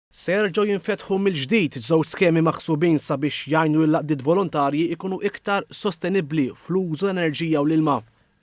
Se jerġgħu jinfetħu mill-ġdid żewġ skemi maħsubin sabiex jgħinu lill-għaqdiet volontarji jkunu iktar sostenibbli fl-użu tal-enerġija u l-ilma.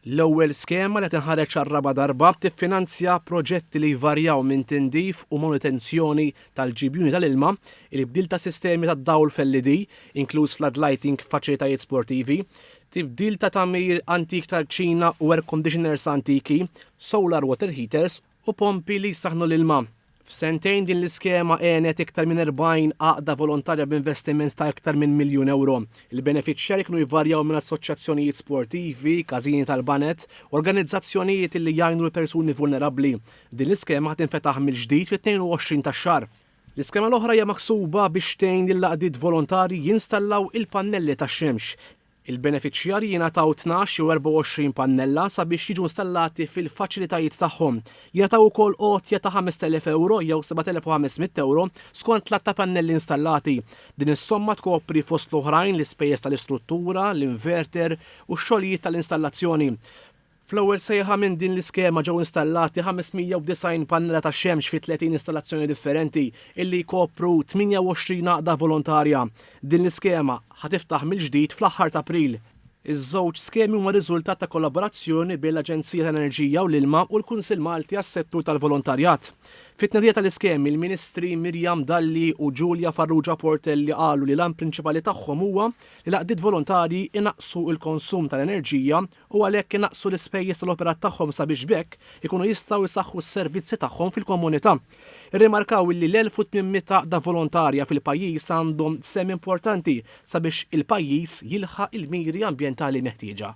L-ewwel skema li tinħareġ għar-raba' darba tiffinanzja proġetti li jvarjaw minn tindif u manutenzjoni tal-ġibjuni tal-ilma, il-bdil ta' sistemi tad-dawl f'LED, inkluż floodlighting f'faċilitajiet sportivi, tibdil ta' tagħmir antik tal-kċina u air conditioners antiki, solar water heaters, u pompi li jsaħħnu l-ilma. F'sentejn din l-iskema għenet iktar minn 40 għaqda volontarja b'investiment ta' iktar minn miljun ewro. Il-benefiċjarji kienu jvarjaw minn assoċjazzjonijiet sportivi, każini tal-baned, organizzazzjonijiet li jgħinu l-persuni vulnerabbli. Din l-iskema ħa tinfetaħ mill-ġdid fit-22 tax-xahar. L-iskema l-oħra hija maħsuba biex tgħin lill-għaqdiet volontarji jinstallaw il-pannelli tax-xemx. Il-benefiċjarji jingħataw tnax jew 24 pannella sabiex jiġu installati fil-faċilitajiet tagħhom. Jingħataw ukoll għotja ta' 5,000 ewro jew 7,500 ewro skont l-għadd ta' pannelli installati. Din is-somma tkopri fost l-oħrajn l-ispejjeż tal-istruttura, l-inverter u x-xogħlijiet tal-installazzjoni. Fl-ewwel sejħa minn din l-iskema ġew installati 590 pannella tax-xemx fi 30 installazzjoni differenti illi jkopru 28 għaqda volontarja. Din l-iskema ħa tiftaħ mill-ġdid fl-aħħar t'April. Iż-żewġ skemi huma riżultat ta' kollaborazzjoni bejn l-Aġenzija tal-Enerġija u l-Ilma u l-Kunsill Malti għas-Settur tal-Volontarjat. Fit-tnedija tal-iskemi, l-Ministri Miriam Dalli u Julia Farrugia Portelli qalu li l-għan prinċipali tagħhom huwa li l-għaqdiet volontarji jnaqqsu l-konsum tal-enerġija u għalhekk inaqqsu l-ispejjeż tal-operat tagħhom sabiex b'hekk ikunu jistgħu jsaħħu s-servizzi tagħhom fil-komunità. Irrimarkaw illi l-1800 għaqda volontarja fil-pajjiż għandhom sehem importanti sabiex il-pajjiż jilħaq il-miri ambjentali meħtieġa.